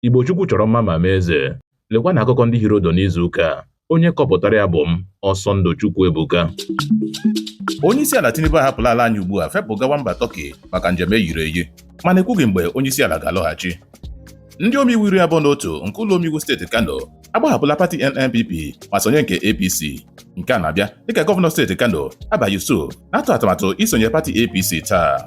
Igbo Chukwu chọrọ mma ma mee eze. Lekwa na akụkọ ndị hirodo n'izu ụka a. Onye kọpụtara ya bụ m, Ọsọndụ Chukwuebuka. Onye isi ala Tinubu ahapụla ala anyị ugbu a fepụ gawa mba Tọki maka njem eyiri eyi mana ekwughị mgbe onye isi ala ga-alọghachi. Ndị omeiwu iri abụọ na otu nke ụlọ omeiwu steeti Kano agbahapụla pati NNPP ma sonye nke APC. Nke a na-abịa dịka gọvanọ steeti Kano Abba Yusuf na-atụ atụmatụ isonye pati APC taa.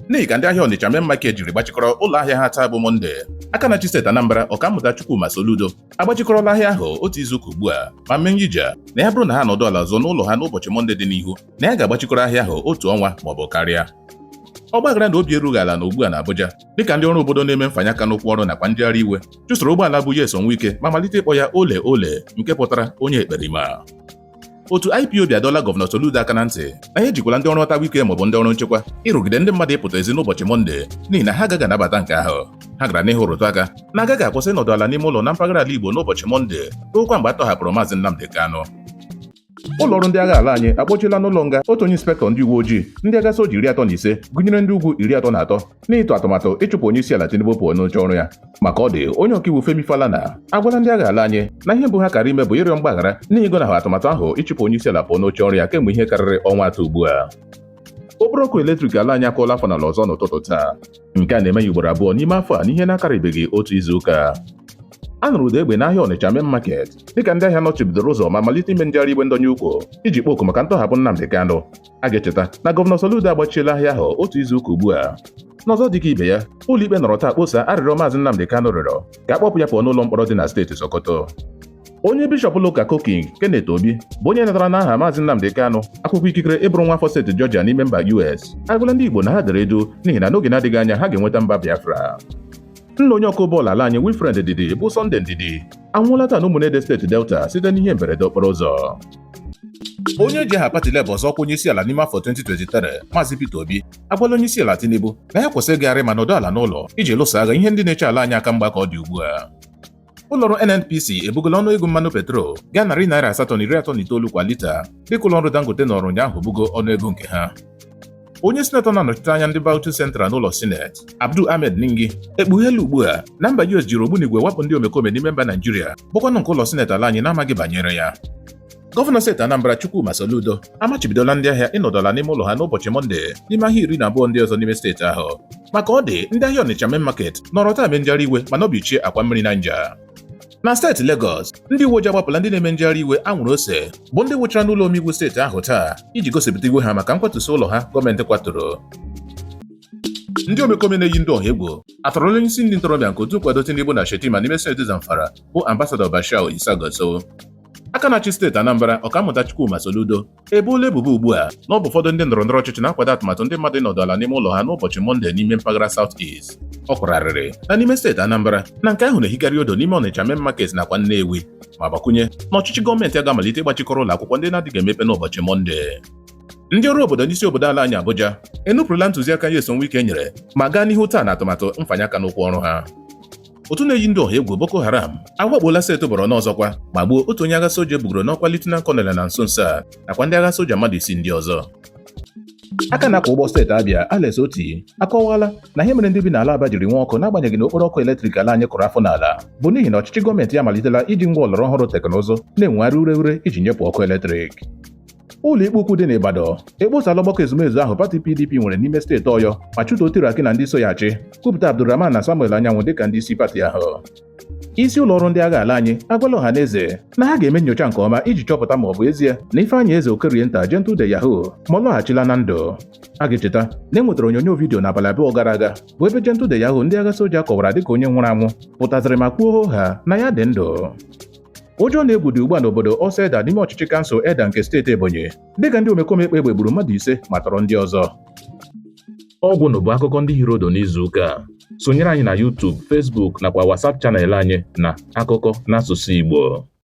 n'ihi ka ndị ahịa Ọnịcha main market jiri gbachikọrọ ụlọ ahịa ha taa bụ Mọnde aka na-achị steeti Anambra Ọkammụta Chukwuma Soludo agbachikọrọla ahịa ahụ otu izuụka ugbu a ma mee nyija na ya bụrụ na ha nọdụ ala ọzọ n'ụlọ ha n'ụbọchị Mọnde dị n'ihu na ya ga-agbachikọrọ ahịa ahụ otu ọnwa maọbụ karịa ọgbaghara na obi erughị ala na ugbu a na Abuja dịka ndị ọrụ obodo na-eme mfanye aka n'ụkwụ ọrụ nakwa njegharị iwe chụsoro ụgbọala bu Nyesom Wike ma malite ịkpọ ya ole ole nke pụtara onye ekperima otu IPOB adọla gọvanọ Soludo aka na ntị na ya ejikwala ndị ọrụ ọtawaike maọbụ ndị ọrụ nchekwa ịrụgide ndị mmadụ ịpụta ezi n'ụbọchị mọnde n'ihi na ha agaghị anabata nke ahụ ha gara n'ihu rụtụ aka na agaghị akwụsị ịnọdụ ala n'ime ụlọ na mpaghara ala Igbo n'ụbọchị mọnde ruokwa mgbe a tọhapụrụ maazị Nnamdi Kanu ụlọ ọrụ ndị agha ala anyị akpọchiela n'ụlọ nga otu onye inspektọ ndị uwe ojii ndị agha soja iri atọ na ise gụnyere ndị ugwu iri atọ na atọ n'ịtụ atụmatụ ịchụpụ onye isi ala Tinubu pụọ n'oche ọrụ ya maka ọ dị onye ọkaiwu Femi Falana agwala ndị agha ala anyị na ihe mbụ ha kara ime bụ ịrịọ mgbaghara n'ihi ịgọnahụ atụmatụ ahụ ịchụpụ onye isi ala pụọ n'oche ọrụ ya kemgbe ihe karịrị ọnwa atọ ugbu a okporo ọkụ eletrik ala anyị akụọla afọ n'ala ọzọ n'ụtụtụ taa nke a na-eme ya ugboro abụọ n'ime afọ a n'ihe na-akarịbeghị otu izu ụka a nụrụ ụda egbe n'ahịa Ọnịcha main market dịka ndị ahịa nọchibidoro ụzọ ma malite ime njegharị iwe ndọnye ukwu iji kpọọ oku maka ntọhapụ Nnamdi Kanu a ga-echeta na gọvanọ Soludo agbachiela ahịa ahụ otu izu ụka ugbu a n'ọzọ dịka ibe ya ụlọikpe nọrọ taa kposa arịrịọ maazị Nnamdi Kanu rịọrọ ka a kpọpụ ya pụọ n'ụlọ mkpọrọ dị na steeti Sokoto onye bishọp ụlọụka Koking Kenneth Obi bụ onye natara n'aha maazị Nnamdi Kanu akwụkwọ ikikere ịbụrụ nwa afọ steeti Georgia n'ime mba US agwala ndị Igbo na ha dere duu n'ihi na n'oge na-adịghị anya ha ga-enweta mba Biafra nna onye ọkụ bọọlụ ala anyị Wilfred Ndidi bụ Sunday Ndidi anwụọla taa n'Ụmụnede steeti Delta site n'ihe mberede okporo ụzọ onye ji aha pati Labour zọọ ọkwa onyeisiala n'ime afọ 2023 Maazị Peter Obi agwala onyeisiala Tinubu na ya kwụsị ịgagharị ma nọdụ ala n'ụlọ iji lụso agha ihe ndị na-eche ala anyị aka mgba ka ọ dị ugbu a ụlọọrụ NNPC ebugola ọnụ ego mmanụ petrol gaa narị naira asatọ na iri atọ na itoolu kwa lita dịka ụlọọrụ Dangote nọrọ ụnyaahụ bugo ọnụ ego nke ha onye sinetọ na-anọchite anya ndị Bauchi Central n'ụlọ sineti Abdul Ahmed Ningi ekpugheela ugbu a na mba US jiri ogbunigwe wakpo ndị omekome n'ime mba Naijiria bụkwanụ nke ụlọ sineti ala anyị na-amaghị banyere ya gọvanọ steeti Anambra Chukwuma Soludo amachibidola ndị ahịa ịnọdụ ala n'ime ụlọ ha n'ụbọchị Mọnde n'ime ahịa iri na abụọ ndị ọzọ n'ime steeti ahụ maka ọ dị ndị ahịa Ọnịcha main market nọrọ taa mee njegharị iwe ma nọbichie akwa mmiri Naija na steeti Legọs ndị uweojii agbapụla ndị na-eme njegharị iwe anwụrụ ose bụ ndị wụchara n'ụlọ omeiwu steeti ahụ taa iji gosipụta iwe ha maka nkwatusi ụlọ ha gọọmenti kwaturu ndị omekome na-eyi ndị ọha egwu atọrọla onye isi ndị ntorobịa nke otu nkwado Tinubu na Shettima n'ime steeti Zamfara bụ ambasadọ Bashir Isa Gusau aka na-achị steeti Anambra Ọkammụta Chukwuma Soludo eboola ebubo ugbu a na ọ bụ ụfọdụ ndị ndọrọ ndọrọ ọchịchị na-akwado atụmatụ ndị mmadụ ịnọdụ ala n'ime ụlọ ha n'ụbọchị Mọnde n'ime mpaghara South East. Ọ kwara arịrị na n'ime steeti Anambra na nke ahụ na-ehikarị odo n'ime Ọnịcha Main Market nakwa Nnewi ma gbakwunye na ọchịchị gọọmenti ya ga-amalite ịgbachikọrọ ụlọ akwụkwọ ndị na-adịghị emepe n'ụbọchị Mọnde. Ndị ọrụ obodo n'isi obodo ala anyị Abuja enupụrụla ntụziaka Nyesom Wike nyere ma gaa n'ihu taa n'atụmatụ mfanye aka n'ụkwụ ọrụ ha. otu na-eyi ndị ọha egwu Boko Haram awakpola steeti Borno ọzọkwa ma gbuo otu onye agha soja e bugoro n'ọkwa Lieutenant Colonel na nso nso a nakwa ndị agha soja mmadụ isii ndị ọzọ aka na-akwọ ụgbọ steeti Abia Alex Otti akọwala na ihe mere ndị bi n'ala Aba jiri nwee ọkụ n'agbanyeghị na okporo ọkụ eletrik ala anyị kụrụ afọ n'ala bụ n'ihi na ọchịchị gọọmenti ya amalitela iji ngwa ọlọrọ ọhụrụ teknụzụ na-enwegharị ure ure iji nyepụ ọkụ eletrik ụlọ ikpe ukwu dị n'Ibadan ekposala ọgbakọ ezumezu ahụ pati PDP nwere n'ime steeti Ọyọ ma chụtuo Turaki na ndị so ya achị kwupụta Abdulrahman na Samuel Anyanwụ dịka ndị isi pati ahụ isi ụlọ ọrụ ndị agha ala anyị agwala ọha na eze na ha ga-eme nyocha nke ọma iji chọpụta ma ọ bụ ezie na Ifeanyị Eze Okorienta Gentle de Yahoo ma ọ lọghachila na ndụ a ga-echeta na e nwetara onyonyo vidiyo n'abalị abụọ gara aga bụ ebe Gentle de Yahoo ndị agha soja kọwara dịka onye nwụrụ anwụ pụtaziri ma kwuo hoo haa na ya dị ndụ Ụjọ na egwu dị ugbu a n'obodo Ọsọ Edda n'ime ọchịchị kansụl Edda nke steeti Ebonyi dịka ndị omekome kpa egbe gburu mmadụ ise ma tọrọ ndị ọzọ. Ọ gwụla bụ akụkọ ndị hiri odo n'izu ụka a. Sonyere anyị na YouTube, Facebook nakwa WhatsApp channel anyị na akụkọ n'asụsụ Igbo.